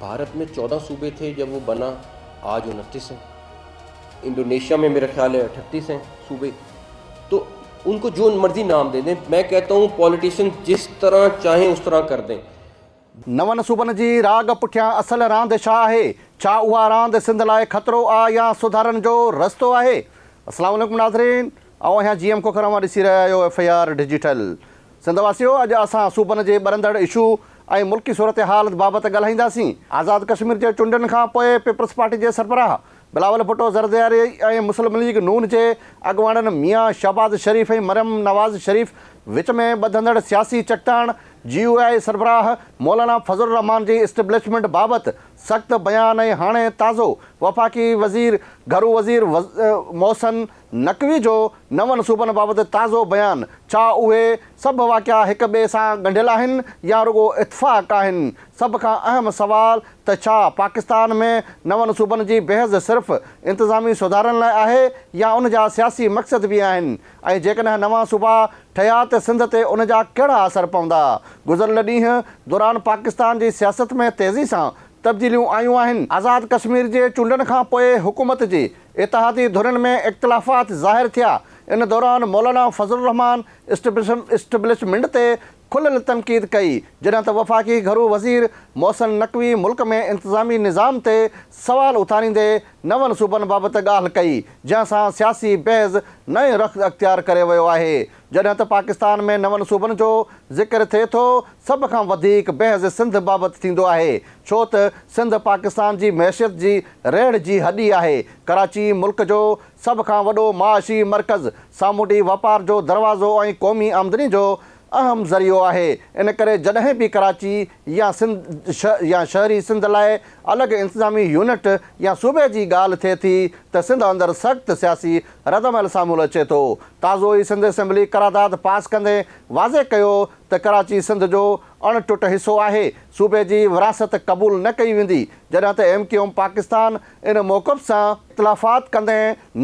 ڀارت ۾ چوڏهن صوبي ٿي جب هو بنا آج انتيس هي انڊونيشيا ۾ ميرا خيال هي اٺتيس هي صوبي تو ان کو جو مرضي نام دي دين مين ڪهتا هون پوليٽيشن جس طرح چاهين اس طرح ڪر دين نون صوبن جي راڳ پٺيان اصل راند ڇا آهي؟ ڇا اها راند سنڌ لاء خطرو آ يا سڌارن جو رستو آهي؟ السلام عليڪم ناظرين آئون آهيان جي ايم کوکر اوهان ڏسي رهيا آهيو F A R digital. Sindh واسيو اڄ اسان صوبن جي ٻرندڙ اشو ۽ ملڪي صورتحال بابت ڳالهائينداسين، آزاد ڪشمير جي چونڊن کان پوء پيپلز پارٽي جي سربراهه بلاول ڀٽو زردياري ۽ مسلم ليگ نون جي اڳواڻن ميان شهباز شريف ۽ مريم نواز شريف وچ ۾ ٻڌندڙ سياسي چڪتاڻ، جي يو آء سربراهه مولانا فضل الرحمان جي اسٽيبلشمينٽ بابت سخت بيان ۽ هاڻي تازو وفاقي وزير گهرو وزير محسن نقوي جو نون صوبن بابت تازو بيان، ڇا اهي سڀ واقعا هڪ ٻئي سان ڳنڍيل آهن يا رڳو اتفاق آهن؟ سڀ کان اهم سوال ته ڇا پاڪستان ۾ نون صوبن جي بحث صرف انتظامي سڌارن لاء آهي يا ان جا سياسي مقصد به آهن ۽ جيڪڏهن نوان صوبا ٺهيا ته سنڌ تي ان جا ڪهڙا اثر پوندا؟ گذريل ڏينهن دوران پاڪستان جي سياست ۾ تيزي سان تبديليون آيون آهن. آزاد ڪشمير جي چونڊن کان پوء حڪومت جي اتحادي ڌرين ۾ اختلافات ظاهر ٿيا. ان دوران مولانا فضل الرحمان اسٽيبلشمنٽ تي کليل تنقيد ڪئي، جڏهن ته وفاقي گهرو وزير محسن نقوي ملڪ ۾ انتظامي نظام تي سوال اٿاريندي نون صوبن بابت ڳالهه ڪئي، جنهن سان سياسي بحث نئين رخ اختيار ڪري ويو آهي. جڏهن ته پاڪستان ۾ نون صوبن جو ذڪر ٿئي ٿو، سڀ کان وڌيڪ بحث سنڌ بابت ٿيندو آهي، ڇو ته سنڌ پاڪستان جي معيشت جي ريڙهه جي هڏي آهي، ڪراچي ملڪ جو سڀ کان وڏو معاشي مرڪز، سامونڊي واپار جو دروازو ۽ قومي آمدني جو اهم ذريعو آهي، ان ڪري جڏهن به ڪراچي يا سنڌ يا شهري سنڌ لاء الڳ انتظامي يونٽ يا صوبي جي ڳالهه ٿئي ٿي ته سنڌ اندر سخت سياسي ردعمل سامهون اچي ٿو. تازو ئي سنڌ اسيمبلي قرارداد پاس ڪندي واضح ڪيو ته ڪراچي سنڌ جو اڻ ٽٽ حصو آهي، صوبي جي ورهاست قبول نه ڪئي ويندي، جڏهن ته ايم ڪيو ايم پاڪستان ان موقف سان. اختلافات ڪندي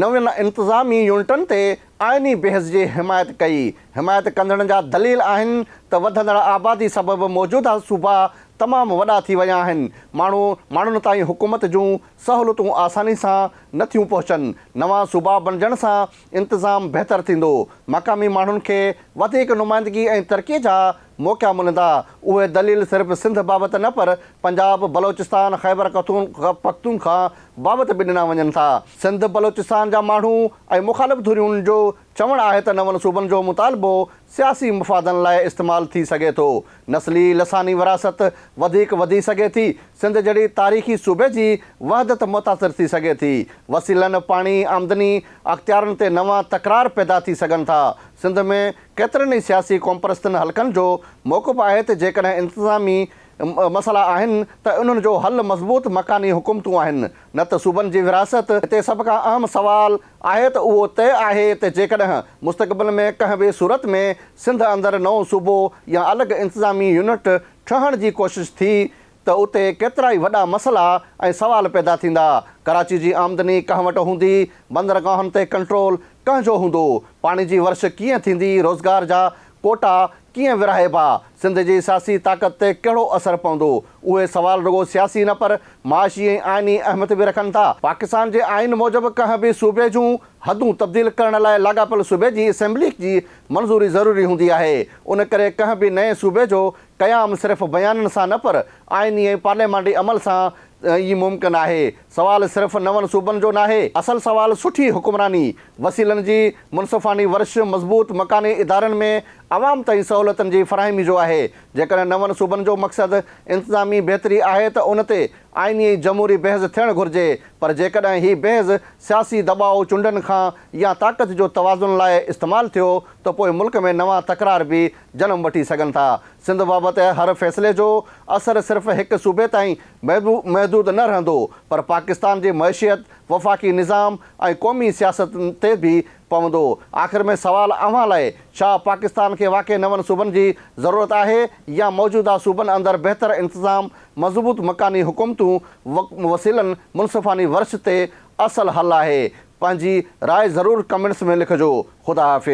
نون انتظامي يونٽن تي آئيني بحث جي حمايت ڪئي. حمايت ڪندڙن جا دليل آهن ته وڌندڙ آبادي سبب موجوده صوبا تمام وڏا ٿي ويا آهن، ماڻهو ماڻهن تائين حڪومت جون سهولتون آساني سان نه ٿيون پهچن، نوان صوبا بڻجڻ سان انتظام بهتر ٿيندو، مقامي ماڻهن کي وڌيڪ نمائندگي ۽ ترقي جا موقعا ملندا. اهي دليل صرف سنڌ بابت نه پر پنجاب، بلوچستان، خيبر پختونخوا بابت به ڏنا وڃن ٿا. سنڌ بلوچستان جا ماڻهو ۽ مخالف ڌرين جو چوڻ آهي ته نون صوبن جو مطالبو سياسي مفادن لاء استعمال ٿي سگهي ٿو، نسلي لساني وراثت وڌيڪ وڌي سگهي ٿي، سنڌ جهڙي تاريخي صوبي جي وحدت متاثر ٿي سگهي ٿي، وسيلن، پاڻي، آمدني، اختيارن تي نوان تڪرار پيدا ٿي سگهن ٿا، سنڌ ۾ ڪيترن ئي سياسي قومپرستن حلقن جو موقف آهي ته جيڪڏهن انتظامي مسئلا آهن ته انهن جو حل مضبوط مڪاني حڪومتون آهن نه ته صوبن جي ورهاست، هتي سڀ کان اهم سوال آهي ته اهو طئي آهي ته جيڪڏهن مستقبل ۾ ڪنهن به صورت ۾ سنڌ اندر نئون صوبو يا الڳ انتظامي يونٽ ٺهڻ جي ڪوشش ٿي ته اتي ڪيترائي وڏا مسئلا ۽ سوال پيدا ٿيندا، ڪراچي جي آمدني ڪنهن وٽ هوندي، بندرگاهن تي ڪنٽرول ڪنهن جو هوندو، پاڻي جي ورڇ ڪيئن ٿيندي، روزگار جا ڪوٽا ڪيئن ورهائبا، سنڌ جي سياسي طاقت تي ڪهڙو اثر پوندو، اهي سوال رڳو سياسي نه پر معاشي ۽ آئيني اهميت به رکن ٿا. پاڪستان جي آئين موجب ڪنهن به صوبي جون حدون تبديل ڪرڻ لاء لاڳاپيل صوبي جي اسيمبليء جي منظوري ضروري هوندي آهي، ان ڪري ڪنهن به نئين صوبي جو قيام صرف بيانن سان نه پر آئيني ۽ پارليامانڊي عمل سان ئي ممڪن آهي. سوال صرف نون صوبن جو ناهي، اصل سوال سٺي حڪمراني، وسيلن جي منصفاڻي ورڇ، مضبوط مڪاني ادارن ۾ عوام تائين سهولتن جي فراهمي جو آهي. جيڪڏهن نون صوبن جو مقصد انتظامي بهتري آهي ته ان تي آئيني ۽ جمهوري بحث ٿيڻ گهرجي پر جيڪڏهن هي بحث سياسي دٻاء، چونڊن کان يا طاقت جو توازن لاء استعمال ٿيو ته پوء ملڪ ۾ نوان تڪرار به جنم وٺي سگهن ٿا. سنڌ بابت هر فيصلي جو اثر صرف هڪ صوبي تائين محدود نه رهندو پر پاڪستان جي معيشيت، وفاقي نظام ۽ قومي سياست تي به پوندو. آخر ۾ سوال اوهان لاء ڇا پاڪستان کي واقعي نون صوبن جي ضرورت آهي يا موجوده صوبن اندر بهتر انتظام، مضبوط مڪاني حڪومتون، وسيلن، منصفاني ورڇ تي اصل حل آهي؟ پنهنجي راء ضرور ڪمينٽس ۾ لکجو. خدا حافظ.